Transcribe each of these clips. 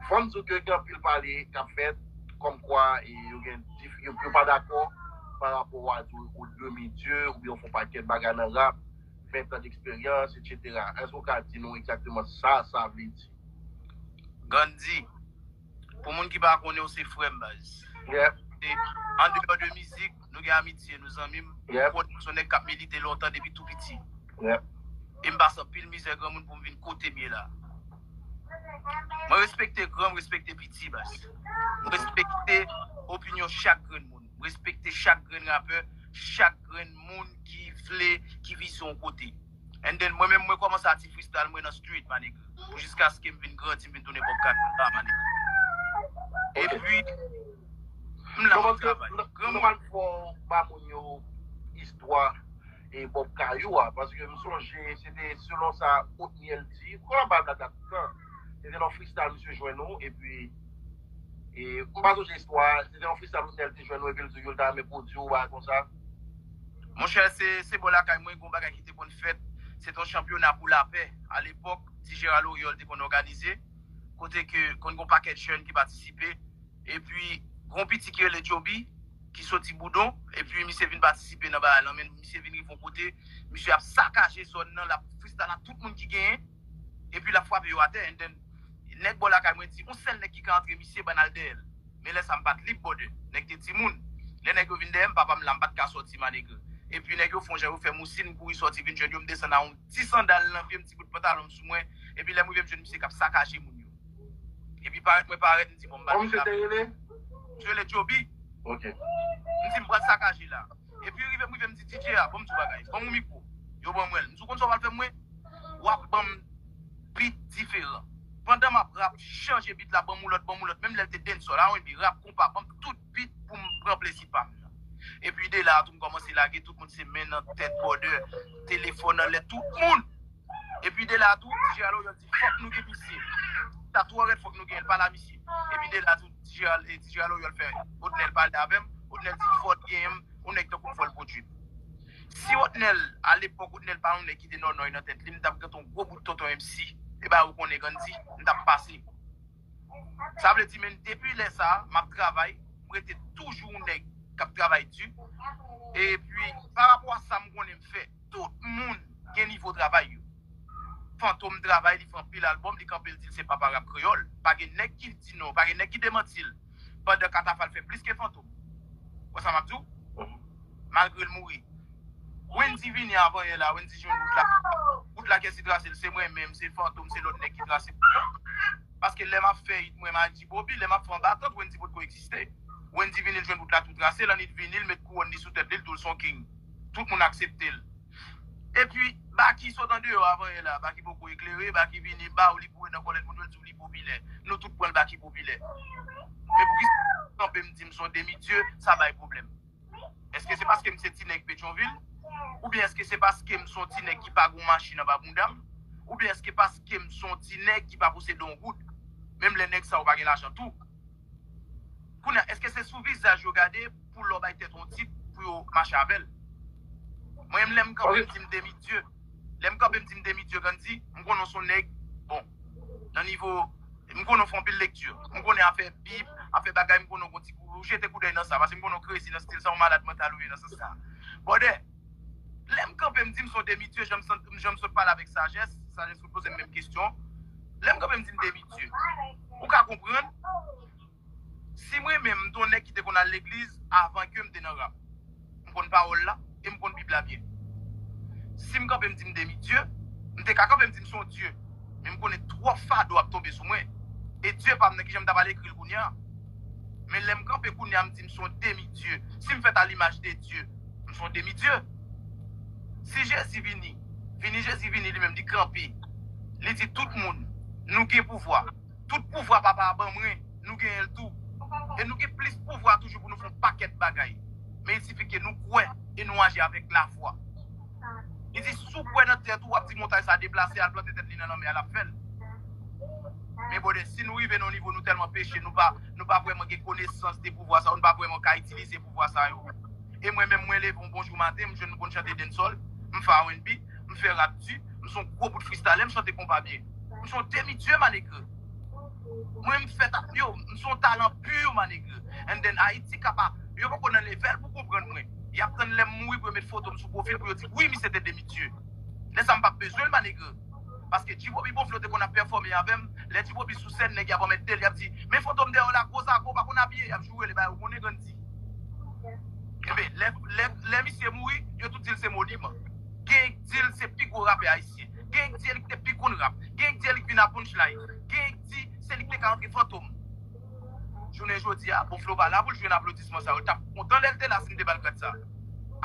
Fòm diw ke gen anpil pale kap fèt kòm kwa yo gen dif yo pa dakò pa rapò wa di ou demi dieu ou byen ou fon pakèt bagay nan rap 20 ans d'expérience etc èske ou ka di nou egzakteman sa sa vle di? Gandhi, Pou moun ki pa konnen w se frè m baz. Yep. Andeyò de mizik. Nou gen amitye nou zanmim. Mwen konnen ou son nèg kap milite lontan depi tou piti. E m pase anpil mizè granmoun poum vin kotem ye la. Mwen respekte gran m respekte piti baz. M respekte opinyon chak grenn moun. M respekte chak grenn rapè, chak grenn moun ki vle ki vizyon yon kote. And then mwen menm mwen komanse a ti freestyle mwen nan street ma nigga. Pou jiskaske m vin grandi m vin tounen Bobcat Banda ma nigga. E pi m la map travay. Nòmal fò w ba moun yo istwa e Bob Kayou a paske m sonje se te selon sa Otniel di m konn ap bay blaga tout tan. Se te nan yon freestyle misye jwenn ou e pi e m pa sonje istwa a. Se te yon freestyle Otniel te jwenn ou e pi l di w yo l ta renmen pwodui w yon bagay konsa. Monchè se bò lakay mwen gon bagay ki te konn fèt, se ton chanpyona pou lapè alepòk Ti Jera Loryòl te konn òganize kote ke konn gon pakèt jèn ki patisipe epi gon piti ki rele Djoby ki soti Boudon epi misye vin patisipe nan bagay lan men misye vin rive yon kote misye ap sakaje zòn nan lap fristal ak tout moun ki genyen epi lap frape yo atè and then nèg bò lakay mwen di yon sèl nèg ki ka antre misye bann al dèyèl. Men lè sa m pat lib bòdè. Nèg te timoun. Lè nèg yo vin dèyè m, papa m la, m pat ka sòti manegre. Epi nèg yo fon jan yo fè mousi, m kouri sòti vin jwenn yo, m desann a on ti sandal nan pye m, ti bout pantalon m sou mwen. Epi lè m rive m jwenn misye k ap sakaje moun yo. Epi parèt mwen parèt, m di bon m ba l yon lape. Kòm misye te rele? Misye rele Djoby. Ok. M di m pral sakaje la. Epi yo rive m rive m di DJ a banm sou bagay, banm yon mikro, yo ban mwenl, m di ou konn sa wal fè m mwen, wap banm beat diferan, pandan map rap chanje beat la banm yon lòt banm yon lòt menm lèl te dancehall, R&B, rap, konpa, banm tout beat poum pran plezi pam nan. Epi de la a tou m kòmanse lage tout moun se men nan tèt bòdè, telefòn anlè tout moun. Epi de la tou ti Gérald Oriol di fòk nou gen misye. Sa twò rèd fòk nou gen el pa la misye. Epi de la tou ti Gérald Oriol fè Otnel pale avè m. Otnel di fòk gen m yon nèg tankou m fò l pwodui m. Si Otnel a lepòk Otnel pa yon nèg ki te nònòy nan tèt li m t ap gen ton gwo bout tonton MC e ba ou konnen Gandhi m t ap pase. Sa vle di menn depi lè sa m ap travay m rete toujou yon nèg k ap travay di. Epi pa rapò a sa m konnen m fè. Tout moun gen nivo travay yo. Fantom travay li fè anpil album li kanpe li dil se papa rap kreyol pa gen nèg ki di non pa gen nèg ki demantil pandan katafal fè plis ke fantom wè sa map diw malgrel mouri Wendy vini avan yè la Wendy jwenn wout la wout la kèsi trasel se mwen menm se fantom se lòt nèg ki trase wout la paske lè map fè it mwen maji boby lè map fè anba tant Wendy potko egziste Wendy vini l jwenn wout la tou trase l annit vini l met kouwòn li sou tèt li l doul son king. Tout moun akseptel. Epi Baky sot andeyò avan yè la Baky poko eklere Baky vini baw li boure nan kòlèt moun yo l diw li popilè nou tout pranl Baky popilè men poukisa mwen kanpe m di m son demi dieu sa bay pwoblèm èske se paske m se ti nèg petyonvil oubyen èske se paske m son ti nèg ki pa gon machin anba bounda m oubyen èske paske m son ti nèg ki pa posede yon goud menm lè nèg sa yo pa gen lajan tou. Kounye a, èske se sou vizaj yo gade pou lè w bay tèt ou yon tit pou yo mache avè l? Mwen menm lè m kanpe m di m demi dye, lè m kanpe m di m demi dye Gandhi, m konnen w se yon nèg bon nan nivo, m konnen w fè yon pil lekti, m konnen afè bib, afè bagay m konnen w gen yon ti kou, ou jete koudèy nan sa, pase m konnen w krezi nan stil sa, ou malad mantal ou ye nan sans sa. Brother! Lè m kanpe m di m son demi dieu jan m san jan m sot pale avèk sajès, sajès sot poze m menm kesyon, lè m kanpe m di m demi dieu. Ou ka konprann si mwen menm m t on nèg ki te konn al legliz avan ke m te nan rap. M konn pawòl la e m konn bib la byen. Si m kanpe m di m demi dieu, m te ka kanpe m di m son dieu men m konnen twòp fado ap tonbe sou mwen e dieu pa m nan kijan m ta pral ekri l kounya. Men lè m kanpe kounya m di m son demi dieu, si m fèt a limaj de dieu, Nou son demi dieu. Si jezi vini vini jezi vini li menm li kanpe li di tout moun nou gen pouvwa tout pouvwa papa a ban mwen nou genyenl tou e nou gen plis pouvwa toujou pou nou fè yon pakèt bagay men il sifi ke nou kwè e nou aji avèk lafwa li di si w kwè nan tèt ou wap di montay sa deplase al plante tèt li nan lanmè a lap fèl men brother si nou rive nan yon nivo nou tèlman peche nou pa nou pa vrèman gen konesans de pouvwa sa yo nou pa vrèman ka itilize pouvwa sa yo. E mwen menm, mwen leve yon bon jou maten, m jwenn m konn chante densòl, m fè RNB, m fè rap di, m son gwo bout fristalè, m chante konpa byen. M son demi dieu ma nègre. Mwen m fèt ak yo, m son talan pur ma nègre. And then Ayiti ka pa, yo poko nan levèl pou konprann mwen. Yap tann lèm mouri pou yo met fotom sou pwofil pou yo di wi misye te demi dieu. Lè sa m pap bezwen l ma nègre. Paske G-Bobby bon flo te konn ap pèfòme avèm, lè G-Bobby sou sèn nèg yap anmèt del yap di men fantom dèyèw la gwo zago pa konn abiye yap joure li ba yo konnen grann di Enben lè lè lè misye mouri yo tout dil se moniman genyen k dil se pi gwo rapè ayisyen genyen k di elik te pi konn rap genyen k di elik vin a punchline genyen k di se li k te ka antre fantom Jounen jodi a, bon Flo pa la pou l jwenn aplodisman sa yo. L t ap kontan lè l te la si n te ba l grad sa.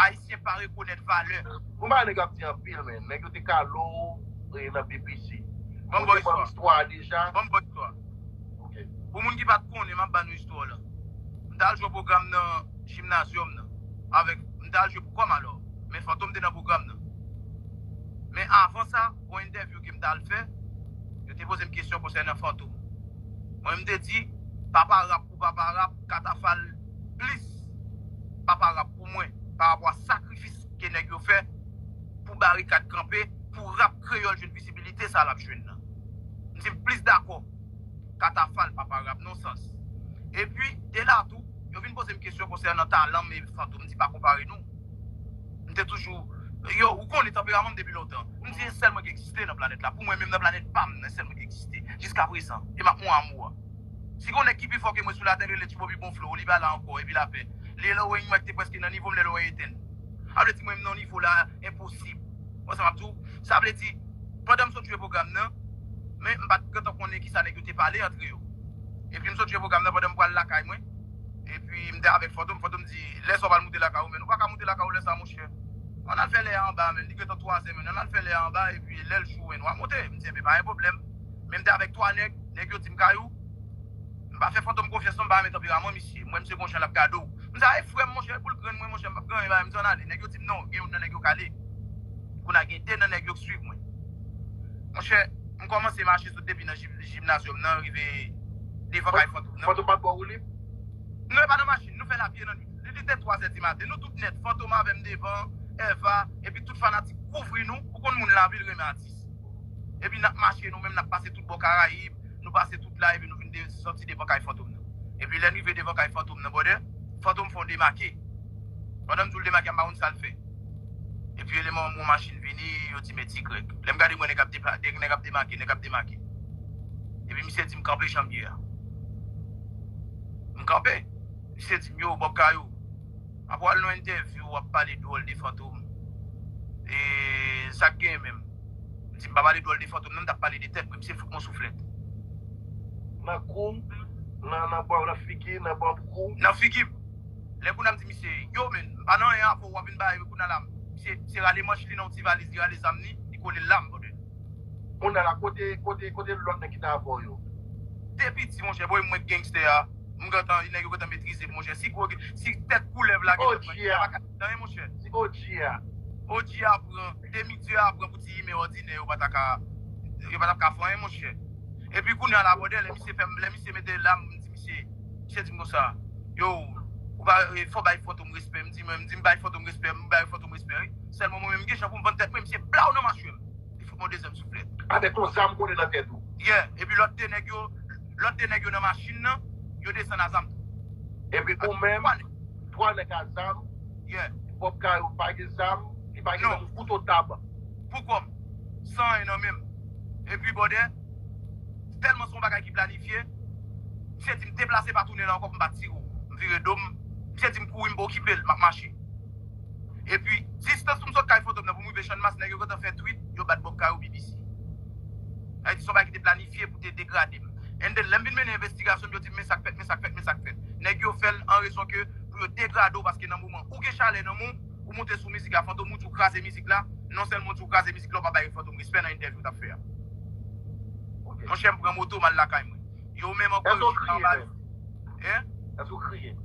Ayisyen pa rekonèt valè. Ou man nèg ap di anpil men nèg yo te kale w nan BPC Ou te ban m istwa a deja? Ban m ba w istwa a. Ok. Pou moun ki pa t konnen m ap ba nou istwa w lan. M t al jwe pwogram nan Jimnazyòm nan avèk M t al jwe pou Kòmalò men Fantom te nan pwogram nan. Men avan sa. Yon entèvyou ke m t al fè, yo te poze m kesyon konsènan Fantom. Mwen m te di, papa rap pou papa rap, Katafal plis papa rap pou mwen parapò a sakrifis ke nèg yo fè pou Barikad kanpe, pou rap kreyòl jwenn vizibilite sa l ap jwenn nan. M di m plis dakò Katafal papa rap non sans. Epi, de la tou, yo vin poze m kesyon konsènan talan m e Fantom. M di pa konpare nou. M te toujou Yo, ou konnen tanperaman m depi lontan. M di e sèl mwen k egziste nan planèt la. Pou mwen menm nan planèt pa m nan e sèl mwen k egziste jiskaprezan. E m ap mon amou a. Si gon nèg ki pi fò ke mwen sou latè l rele Tibobi bon flo, li pa la ankò epi lapè. Li e Lorraine mwen k te prèske nan nivo m lè Lorraine etenn. A vle di mwen m nan nivo la enposib. Ou wè sa m ap di w? Sa vle di, pandan m sot jwe pwogram nan, men m pa t gentan konnen kisa nèg yo te pale antre yo. Epi m sot jwe pwogram nan pandan m pral lakay mwen. Epi m te avèk Fantom, Fantom di, lè sa w pral moute lakay ou men nou pa ka moute lakay ou lè sa monchè. Ann al fè lè a anba menm, li gentan 3 zè menm, ann al fè lè a anba epi lè l jou wè nou a moute. M di, enben pa gen pwoblèm. Men m te avèk 3 nèg, nèg yo di m kay ou, m pa fè Fantom konfyans non, m pa renmen tanperaman misye, m wè misye gon jan l ap gade w. M di, a e frè m monchè, e pou l grenn mwen monchè m p ap grenn, m di ann ale. Nèg yo di m non, gen youn nan nèg yo k ale. Kounye a gen 2 nan nèg yo k suiv mwen. Monchè, m kòmanse mache sot depi nan jip. Gymnasium nan rive devan kay Fantom nan. Fantom pat baw woulib? Non e pa nan machin, nou fèl a pye nan nwit. Li li te 3 zè di maten, nou tout nèt, Fantom avè m devan, Eva, epi tout fanatik kouvri nou, ou konn moun lavil renmen atis. Epi nap mache nou menm nap pase tout bò Karayib, nou pase tout la epi nou vin soti devan kay Fantom nan. Epi lè n rive devan kay Fantom nan brother, Fantom fè yon demake. Pandan m di w l demake a m pa konn sa l fè. Epi eleman omro machin vini, yo di men Tigrèg. Lè m gade m wè nèg ap depake, nèg ap demake, nèg ap demake. Epi misye di m kanpe jan m ye a. M kanpe. Misye di m yo Bob Kayou, apa w al nan entèvyou w ap pale dwòl de fantom? E sa k genyen menm? M di m pa pale dwòl de fantom non, m t ap pale de tèt mwen. Misye fout m yon souflèt. Nan kou, nan bra w, nan figi, nan banb kou. Nan figi m. Lè kouna m di misye, Yo men, m pa nan anyen avè w, w ap vin bay kouna la misye se rale manch li nan yon ti valiz, li rale zam li, li kole l la m brother. Kounye la kote kote kote lòt nèg ki ta avè w yo? Depi di monchè boy mwen gangster a m gentan nèg yo gentan metrize m monchè si gwo si tèt koulèv la gentan pran kè a paka di anyen monchè si og a og a pran demi dieu a pran pou ti imen òdinè yo pa ta ka yo pa tap ka fè anyen monchè epi kounye a la brother lè misye fè m lè misye mete l la m di Misye misye dim konsa yo ou pa fò bay fantom respè mdi mwen mdi mbay fantom respè mbay fantom respè wi sèlman mwen menm mgenjan poum vann tèt mwen misye blaw nan machwem li fout mwen yon dezyèm souflèt avèk yon zam kole nan tèt ou. Yeah epi lòt 2 nèg yo lòt 2 nèg yo nan machin nan yo desann a zam tou. Epi ou menm 3 nèg a zam. Yeah. Bob Caro pa gen zam li pa gen menm yon kouto tab. Poukòm san anyen nan menm epi bòdè. Tèlman se yon bagay ki planifye. Misye di m deplase pa tounen la ankò pou m pa tire w. M vire do m. Misye di m kouri m pa okipe l, m ap mache. Epi, distans pou m sot kay Fantom nan pou m rive Channmas, nèg yo gentan fè twit, yo bat Bob Caro BBC. Sa vle di se yon bagay ki te planifye pou te degrade m. And then, lè m vin mennen envestigasyon m, yo di m men sa k fèt, men sa k fèt, men sa k fèt. Nèg yo fè l an rezon ke pou yo degrade w paske nan moman ou gen chalè nan men w, Ou moute sou mizik la fantom ou di ou kraze mizik la non sèlman ou di ou kraze mizik la ou pa bay fantom respè nan entèvyou ou tap fè a monchè m pran moto m al lakay mwen yo menm ankò yo chita anba yo hein Eske ou kriye?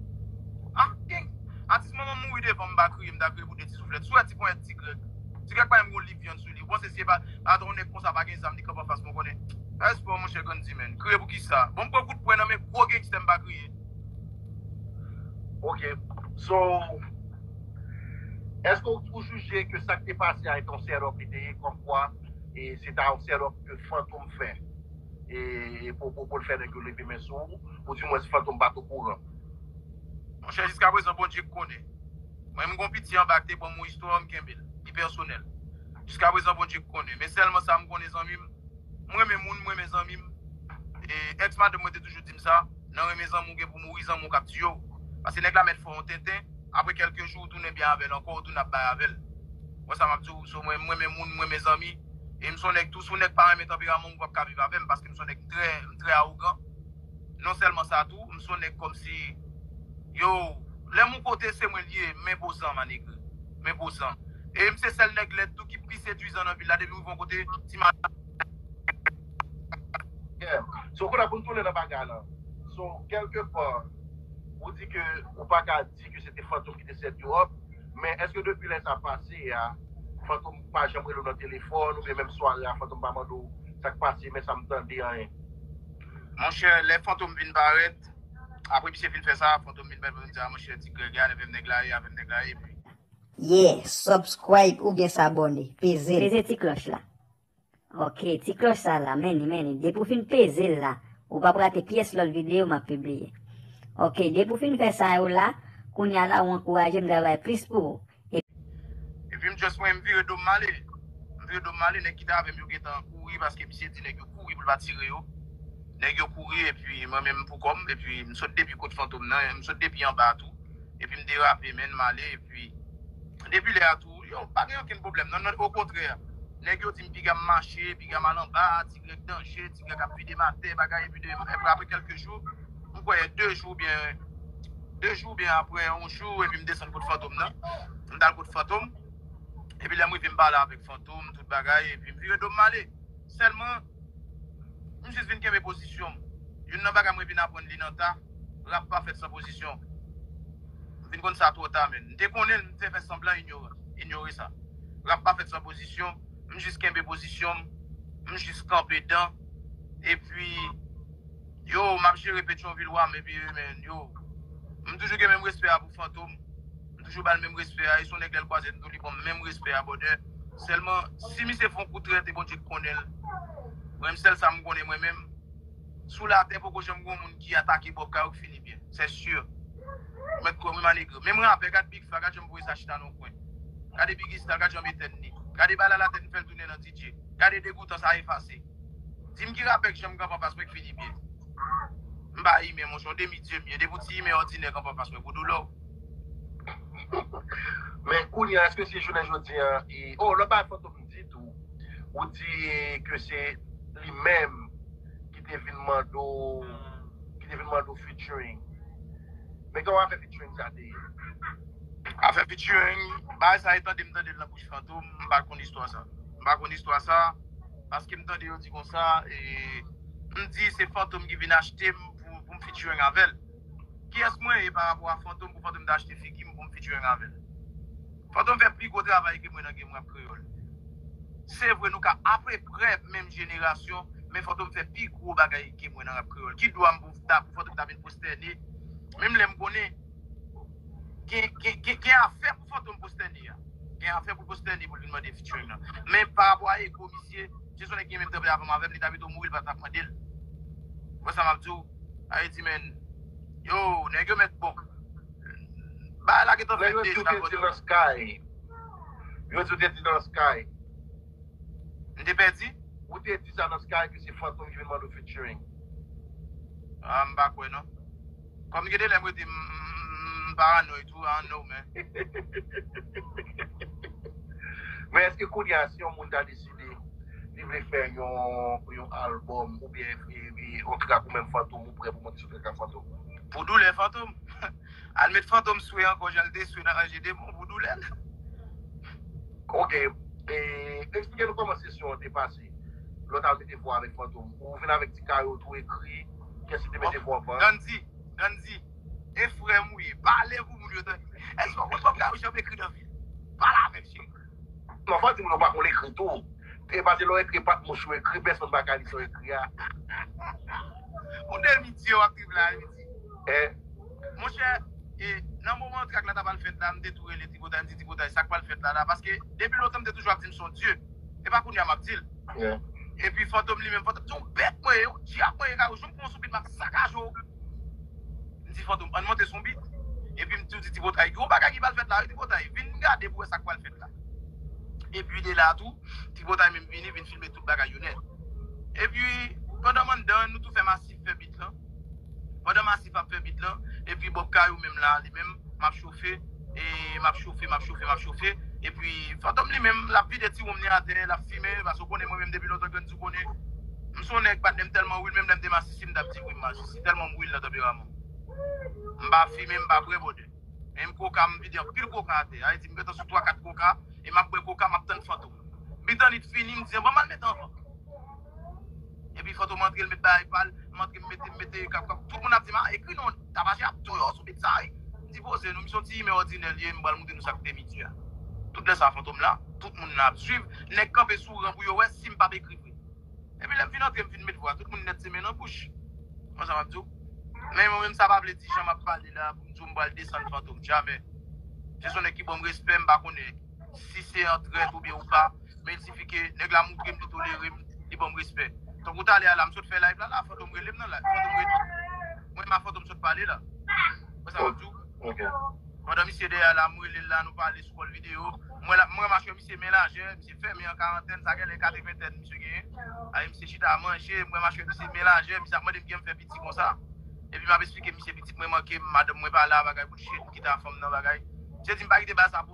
Ah king! Atis manman m mouri devan m m pa kriye m ta kriye pou 2 ti souflèt Sou wè ti ponyèt ti grèg Ti grèg pa menm gen yon liv vyann sou li ou panse si e pa ata yon nèg konsa pa gen zam li kanpe anfas mwen konnen Respè monchè Gandimèn Kriye pou kisa Bon m pran kout pwen nan men gwo gangster m pa kriye. Ok, so, eske ou jije ke sak te pase a eton setup li te ye komkwa e se ta yon setup ke Fantom fè e pou pou l fè nèg yo leve men sou ou, ou di mwens Fantom pat o kouran? Monchè jiskaprezan Bondye k konnen. Mwen menm gon piti anba k te banm yon istwa m kenbe l, li pèsonèl. Jiskaprezan Bondye k konnen. Men sèlman sa m konnen zanmi m, m renmen moun, m renmen zanmi m e ex madanm mwen te toujou di m sa. Nan renmen zanmi w gen pou mouri zanmi w kap tiye w paske nèg la mèt fè yon tenten aprè kèlke jou ou tounen byen avèl ankò ou tounen ap bay avèl ou wè sa map di w so mwen m renmen moun m renmen zanmi e m son nèg tou si yon nèg pa renmen tanperaman m ou pap ka viv avèm paske m son nèg m trè m trè awogan non sèlman sa tou m son nèg kòmsi yow lèm yon kote se mwen l ye m enpozan ma negre m enpozan e m se sèl nèg lèd tou ki pi sedwizan nan vil la depi m rive yon kote ti madanm So kounye a pou n tounen nan bagay la So kèlke fwa ou di ke ou pa ka di ke se te Fantom ki te set yo up Men eske depi lè sa pase a Fantom pa janm rele w nan telefòn oubyen menm sware a Fantom pa mande w sa k pase men sa m tande anyen? Monchè lè Fantom vin parèt apre misye fin fè sa Fantom vin pale pou l di a monchè Ti Greg gade avèm nèg la ye avèm nèg la ye epi. Yeah subscribe oubyen s'abonner peze l. Peze ti cloche la. Ok ti klòch sa la many many depi ou fin peze l la ou pap rate pyès lòt video map pibliye ok depi ou fin fè sa yo la kounya la ou ankouraje m travay plis pou ou e Epi m just wè m vire do m male m vire do m male nèg ki t avè m yo gentan kouri paske misye di nèg yo kouri pou l pa tire yo nèg yo kouri epi mwen menm pou kò m epi m sot depi kot fantom nan m sot depi anba a tou epi m derape menn male epi depi lè a tou. Yo pa gen okenn pwoblèm non nan okontrè nèg yo di m piga m mache, piga m al anba, ti grèg danje, ti grèg ap vide m atè bagay epi de epi aprè kèlke jou m kwè 2 jou oubyen 2 jou oubyen aprè yon jou epi m desann kot fantom nan m t al kot fantom epi lè m rive m pale avèk fantom tout bagay epi m vire do m m ale sèlman M jis vin kenbe pozisyon m. Youn nan bagay mwen vin aprann li nan ta, rap pa fèt san pozisyon. M vin konn sa twò ta menn. M te konnen l, m te fè sanblan inyoran, inyore sa. Rap pa fèt san pozisyon, m jis kenbe pozisyon m, m jis kanpe dan. Epi, yo, m ap jere Petyonvil wa m epi, men, yo. M toujou gen menm respè a pou Fantom. M toujou bal menm respè a e son nèg lèl kwazem tou li banm menm respè a brother sèlman si misye fon kou trèt e Bondye k konnenl mwen sèl sam konnen mwen menm sou latè poko janm gon moun ki atake bob kay ou k fini byen c'est sûr ou mèt kwèm wi ma negre menm rapè gad big fla gad janm voye sa chita nan kwen gade biggy style gad janm etèn li gade bal ala tèt m fèl tounen nan DJ gade degoutan sa efase dim ki rapè k janm kanpe anfas mwen k fini byen m pa imè monchè yon demi dieu m ye depi w ti imè òdinè kanpe anfas mwen bro dolòw. Men kounye a eske se jounen jodi a e oh lò pa fantom ditou ou di ke se li menm ki te vin mande w ki te vin mande w featuring men kòman afè featuring sa te ye? Afè featuring bagay sa e tande m tande l nan bouch fantom m pa konn istwa sa m pa konn istwa sa paske m tande yo di konsa e m di se fantom ki vin achte m pou m featuring avè l. Kiyès mwen ye pa rapò a Fantom pou Fantom ta achte figi m pou m featuring avè l? Fantom fè pi gwo travay ke mwen nan game rap kreyòl. Se vre nou ka apeprè menm jenerasyon, men Fantom fè pi gwo bagay ke mwen nan rap kreyòl. Ki dwa m pou Fantom ta vin pwostène menm lè m konnen gen afè pou Fantom pwostène a? Gen afè pou l pwostène pou l vin mande featuring nan. Men pa rapò a ego misye, si se yon nèk ki gen menm tanpè avè m avè m li ta pito mouri li pa tap mande l. Ou wè sa m ap di w? Ayiti menn Yoo nèg yo mèt bon Bagay la gentan fè 2 jou Yo di w te di nan sky Yo di w te di nan sky M te pèdi? Ou te di sa nan sky ke se fantom ki vin mande w featuring. Ah m pa kwè non. Kòm gen de lè m rete m paranòy tou I don't know man. Men eske kounya si yon moun ta deside. Li vle fè yon album ou byen yon trak ou menm Fantom ou prè pou monte sou trak ak Fantom? Pou doulè Fantom? Al met Fantom swe ankò jan li te swe nan Anje Demon pou doulè l. Ok, eksplike nou kòman sesyon an te pase lè w ta mete vwa avèk Fantom. Ou vin avèk ti kaye w tou ekri kès ki te mete vwa pou. Gandhi, Gandhi, e frè m ou ye, pale pou moun yo tande. Èske w konn bagay ou janm ekri nan vi w? Pale avèk cheri w. Non fòk di moun yo pa konn ekri tou e pase lè w ekri epa mouche ou ekri pèsonn pa ka li sa w ekri a. Ou de mitye wap viv la wi di. Eh. Monchè e nan moman trak la ta pral fèt la m te tou rele tripotay m di tripotay sak pral fèt la la paske depi lontan m te toujou ap di m son dye epa kounya map dil epi fantom li menm fantom se yon bèt mwen ye yon dyab mwen ye kayou jou m pran yon soupit map sakaje w. M di Fantom, ann monte sou yon bit. Epi m tou di Tripotay, gen yon bagay ki pral fèt la wi Tripotay, vin gade pou wè sa k pral fèt la. Epi de la tou, Tripotay menm vini, vin filme tout bagay yo nèt. Epi, pandan m anndan an, nou tou fè Massif fè bit lan. Pandan Massif ap fè bit lan, epi Bob Kayou menm la, li menm, m ap chofe, e m ap chofe, m ap chofe, m ap chofe. Epi, Fantom li menm, l ap vide ti wonm li atè, l ap fimen, paske w konnen mwen menm depi lontan grann. Ou konnen, m son nèg patnè m tèlman wil menm lè m te masisi m tap di wi m masisi tèlman m wil nan tanperaman m. M pa fimen m pa bwè bòdè. Men m koka m vide anpil koka atè. Sa vle di m gentan sou 3 4 koka e map bwè koka map tann Fantom. Bitanit fini m di an banm al mete anvan. Epi Fantom antre l met bagay pal, m antre m mete m mete tout moun ap di m a ekri non. Tabazi ap touye w sou bit sa wi. M di poze nou, m se yon ti imen òdinè l ye, m pral moutre nou sa k te Midy a. Tout lè sa Fantom la, tout moun la ap swiv, nèg kanpe sou ran pou yo wè si m pap ekri vre. Epi lè m fin antre m fin met vwa, tout moun nèt se men nan bouch. Konsa m ap di w. Men mwen menm sa pa vle di jan m ap pale la pou m di w m pral desann Fantom, jamè. Se son nèg ki ban m respè, m pa konnen. Si se an trèt oubyen ou pa Men ti fi ke nèg la moutrem li tolerem li banm respè Tankou talè a la m sot fè live la la Fantom relem nan live Fantom redi Mwen menm a Fantom sot pale la Ou wè sa map diw Pandan misye dèyè a la m relel la nou pale sou kòl video M wè lap m wè machwè misye men lajè Misye fèmen an karantèn sa genlè katreventèn misye genyen Ayi misye chita manje m wè machwè misye men lajè Misye ap mandem kijanm fè piti konsa Epi map esplike misye pitit mwen mankem madanm mwen pa la bagay bout chet m kite a fanm nan bagay Misye dim pa kite bal sa pou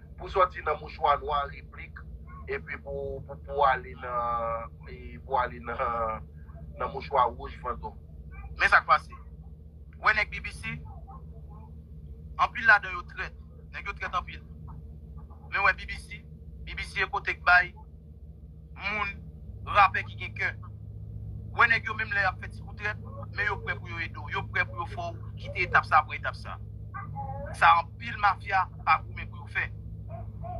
Pou sòti nan mouchwa nwa replik epi pou pou ale nan pou ale nan nan mouchwa wouj fantom. Men sak pase. Ou wè nèg BBC? Anpil ladan yo trèt. Nèg yo trèt anpil. Men ou wè BBC? BBC eko te k bay. moun rapè ki gen kè. Wè nèg yo menm lè yap fè ti kou trèt men yo prè pou yo ede w, yo prè pou yo fè w kite etap sa pran etap sa. Sa anpil mafya pa goumen pou yo fè.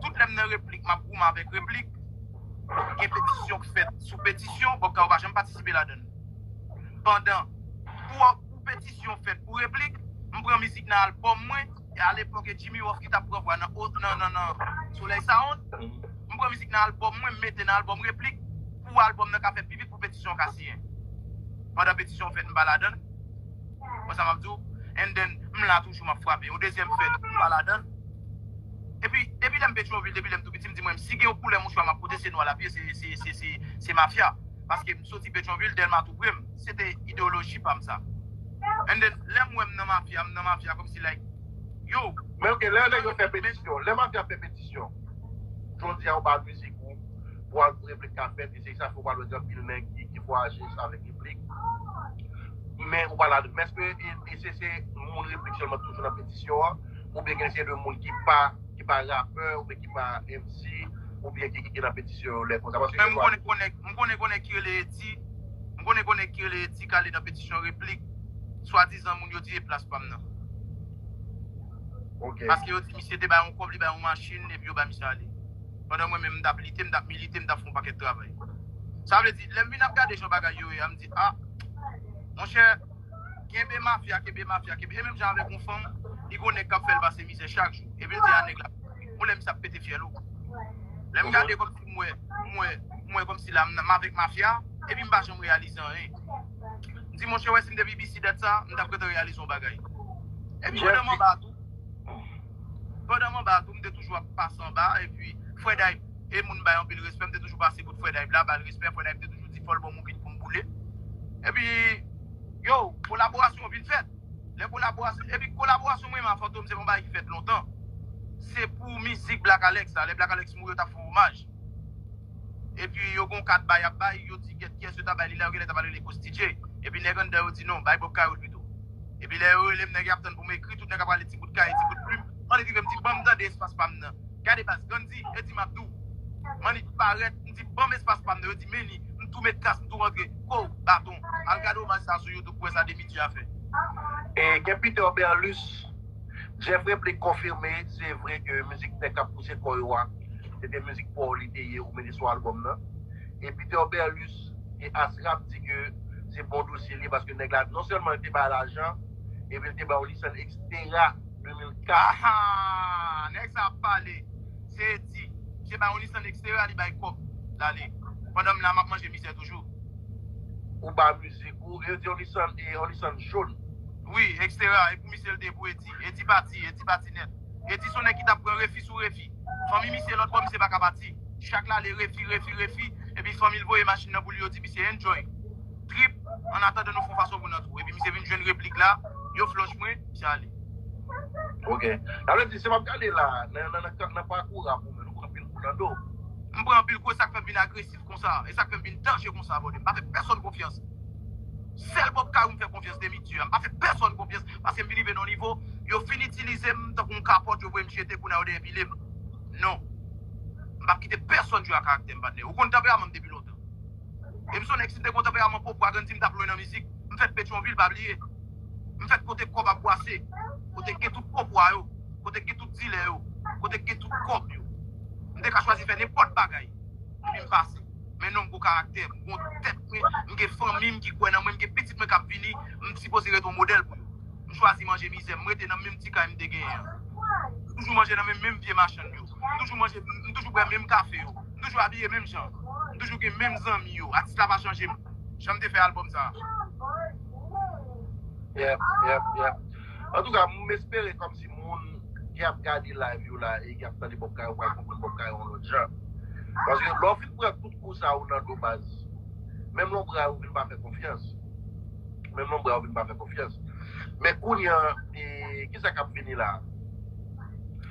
Tout lè m nan replik map goumen avèk replik, gen petisyon k fèt sou petisyon, bon pkao pa janm patisipe ladann. Pandan pou petisyon fèt pou replik, m pran mizik nan albòm mwen. E a lepòk e Jimmy Ruff ki tap pran vwa nan Solèy Sound. M pran mizik nan albòm mwen m mete nan albòm Replik pou albòm nan ka fè pi vit pou petisyon an ka siyen. Pandan petisyon an fèt m pa ladan l. Wè sa m ap di w? And then m la toujou m ap frape. Yon dezyèm fèt m pa ladan l. Epi depi lè m Petrovil, depi lè m tou piti m di mwen si gen yon koulè mouchwa m ap pote se nwa l ap ye se mafya. Paske m soti Petrovil, Dèlma tou pre m. Se te ideoloji pam sa. And then lèm wèm nan mafya m nan mafya kom si like yo. Men ok lè nèg yo fè petisyon, lè mafya fè petisyon jodi a ou pa mizik ou pou al pou replik ka fèt e se sa fè ou pa wè gen anpil nèg ki vwayaje avèk replik men ou pa la men eske e se se moun replik sèlman toujou nan petisyon an oubyen gen se de moun ki pa ki pa rapè oubyen ki pa MC oubyen ki ki nan petisyon yo lè konsa paske gen lwa m konnen gen nèg ki rele Eddy. M konnen kon nèg ki rele Eti kale nan petisyon replik swadizan moun yo di e plas pa m nan. Ok. Paske yo di misye te bay yon kòb, li bay yon machin epi yo bay misye ale. Pandan mwen menm m t ap lite, m t ap milite, m t ap fè yon pakèt travay. Sa vle di, lè m vin ap gade jan bagay yo ye a, m di a, monchè, kenbe mafya, kenbe mafya, kenbe e menm jan avèk yon fanm, li gon nèg k ap fè l pase mizè chak jou. Epi l di a nèg la, yon lè misye ap pete fyèl ou. Lè m gade kòm si. Mwen, mwen, mwen kòmsi la m avèk mafya epi m pa janm reyalize anyen. M di monchè wè si m te BBC dat sa a, m t ap gentan reyalize yon bagay. Epi pandan m anba a tou, pandan m anba a tou m te toujou ap pase anba a epi Fredayb e moun m bay anpil respè, m te toujou pase kot Fredayb la ba l respè, Fredayb te toujou di fò l ban m yon bit pou m boule. Epi, yow, kolaborasyon an vin fèt. Lè kolaborasyon epi kolaborasyon mwen menm a Fantom se pa yon bagay ki fèt lontan. Se pou mizik Black Alex la, lè Black Alex mouri yo tap fè omaj. Epi yo gon kad bay yap bay, yo di gèt kiyès yo ta bay li la, yo genlè ta pral rele Costi J. Epi nèg anndan yo di non, bay Bob Cayol pito. Epi lè yo rele m nèg yap tann pou m ekri, tout nèg ap rale ti bout kaye, ti bout plim. Mannik rive m di banm tande espas pa m nan. Gade baz, Gandhi, Eddy Map di w, Mannik parèt. Di banm espas pam nan yo di meni m tou met kas m tou rantre kouw baton al gade omaj sa sou youtube pou wè sa Demidy a fè. E gen Peter Berlus. Jeff Replique konfime se vre ke mizik Nèg kap pouse kò yo a se te mizik paw li te ye ou mete sou album nan. E Peter Berlus e As Rap di ke se bon dosye li ye paske nèg la non sèlman li te bay lajan epi li te bay on licence etc. 2004. Hahaa! Nèg sa ap pale! Se. Ayiti se pa yon lis an eksterè li bay kòb lale pandan m la map manje mizè toujou. Ou ba mizik ou yo di yon lisann e yon lisann jaune. Wi ekstera e pou misye l te pou edi edi pati edi pati nèt edi son nèg ki tap pran refi sou refi fanmi misye lòt bò misye paka pati chak lale refi refi refi epi fanmi l voye machin nan pou li yo di misye enjoy. trip an atandan nou fon fason pou nan twou epi misye vin jwenn replik la yo flòch mwen misye ale. Ok. Sa vle di si map gade la nan pakou rap ou menm nou pran anpil kou nan do. M pran anpil kou e sak fèm vin agresif konsa e sak fèm vin danje konsa brother m pa fè pèsòn konfyans sèl Bob Kayou m fè konfyans demi dieu a m pa fè pèsòn konfyans paske m vin rive nan yon nivo yo fin itilize m tankou yon kapòt yo voye m jete kounye a yo depile m non m pap kite pèsòn jwe ak karaktè m patnè ou konn tanperaman m depi lontan. E m sonnen k si m te kontanperaman pop wa gann di m t ap lwen nan mizik. M fèt Petyonvil, pa bliye. M fèt kote kòb ap bwase, kote k gen tout pop wa yo, kote k gen tout dilè yo, kote k gen tout kòb yo. M te ka chwazi fè nenpòt bagay epi m pase. Men non m gon karaktè, m gon tèt mwen, m gen fanmi m ki kwè nan mwen, m gen pitit mwen k ap vini, m sipoze ret on modèl pou yo. M chwazi manje mizè m, m rete nan menm ti kay m te genyen an. M toujou manje nan men menm vye machann yo. M toujou manje, m toujou bwè menm kafe yo. M toujou abiye menm jan. M toujou gen menm zanmi yo. Atis la pa chanje m jan m te fè album sa. Yep, yep, yep. Antouka, m espere kòmsi moun ki ap gade live yo la e ki ap tande Bob Kayo pral konprann Bob Kayo yon lòt jan. Paske lè w fin pran tout kou sa yo nan do baz, menm lonbray ou vin pa fè konfyans. Menm lonbray ou vin pa fè konfyans. Men kounye an, e kisa k ap vini la?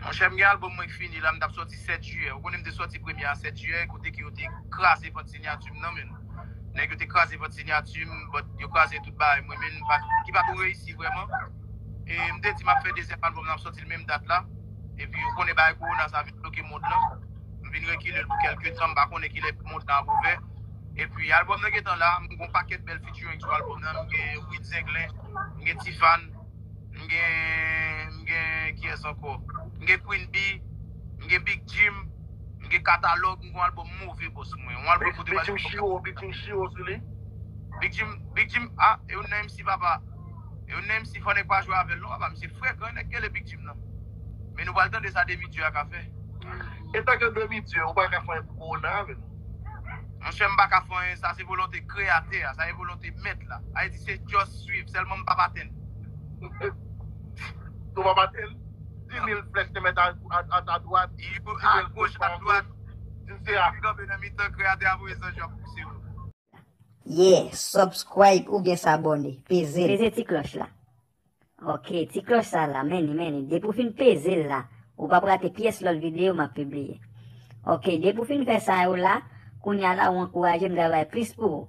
Monchè m gen album mwen k fini la m tap sòti 7 jiyè ou konnen m te sòti premye a 7 jiyè kote ke yo te kraze vant sinyati m nan menn nèg yo te kraze vant sinyati m but yo kraze tout bagay mwen menn ki pa ko reyisi vrèman e m te di map fè dezyèm album nan m sòti l menm dat la epi ou konnen bagay kowona sa vin bloke mond lan m vin rekile l pou kèlke tan m pa konnen kilè mond lan ap ouvè epi album nan gentan la m gon pakèt bèl featuring sou album nan m gen Wid Zenglen m gen Tifane. M gen m gen kiyès ankò? M gen Queen Bee, m gen Big Jim, m gen Katalog, m gen yon album move boss mwen. Yon album kote Big Jim chiro, Big Jim chiro sou li. Big Jim, Big Jim ah e youn nan MC papa. E youn nan MC fò nèg pa jwe avèl non papa misye fre gran nèg gèle Big Jim nan. Men nou pral tande sa Demi Dieu a ka fè. Etan ke Demi Dieu ou paka fè yon pou Corona avèm. Monchè m paka fè anyen sa se volonte kreyatè a sa e volonte mèt la ayiti se just swiv sèlman m pap atenn Ou pap atenn? Di mil flèch te mèt a ta dwat Di mil a goch a dwat Di se a kanpe nan mitan kreyatè a voye zanj yo ap pouse yo. Yeah subscribe oubyen s'abonner peze l. Peze ti cloche la. Ok ti klòch sa la men li men li depi w fin peze l la ou pap rate pyès lòt videyo map pibliye ok depi w fin fè sa yo la kounya la ou ankouraje m travay plis pou ou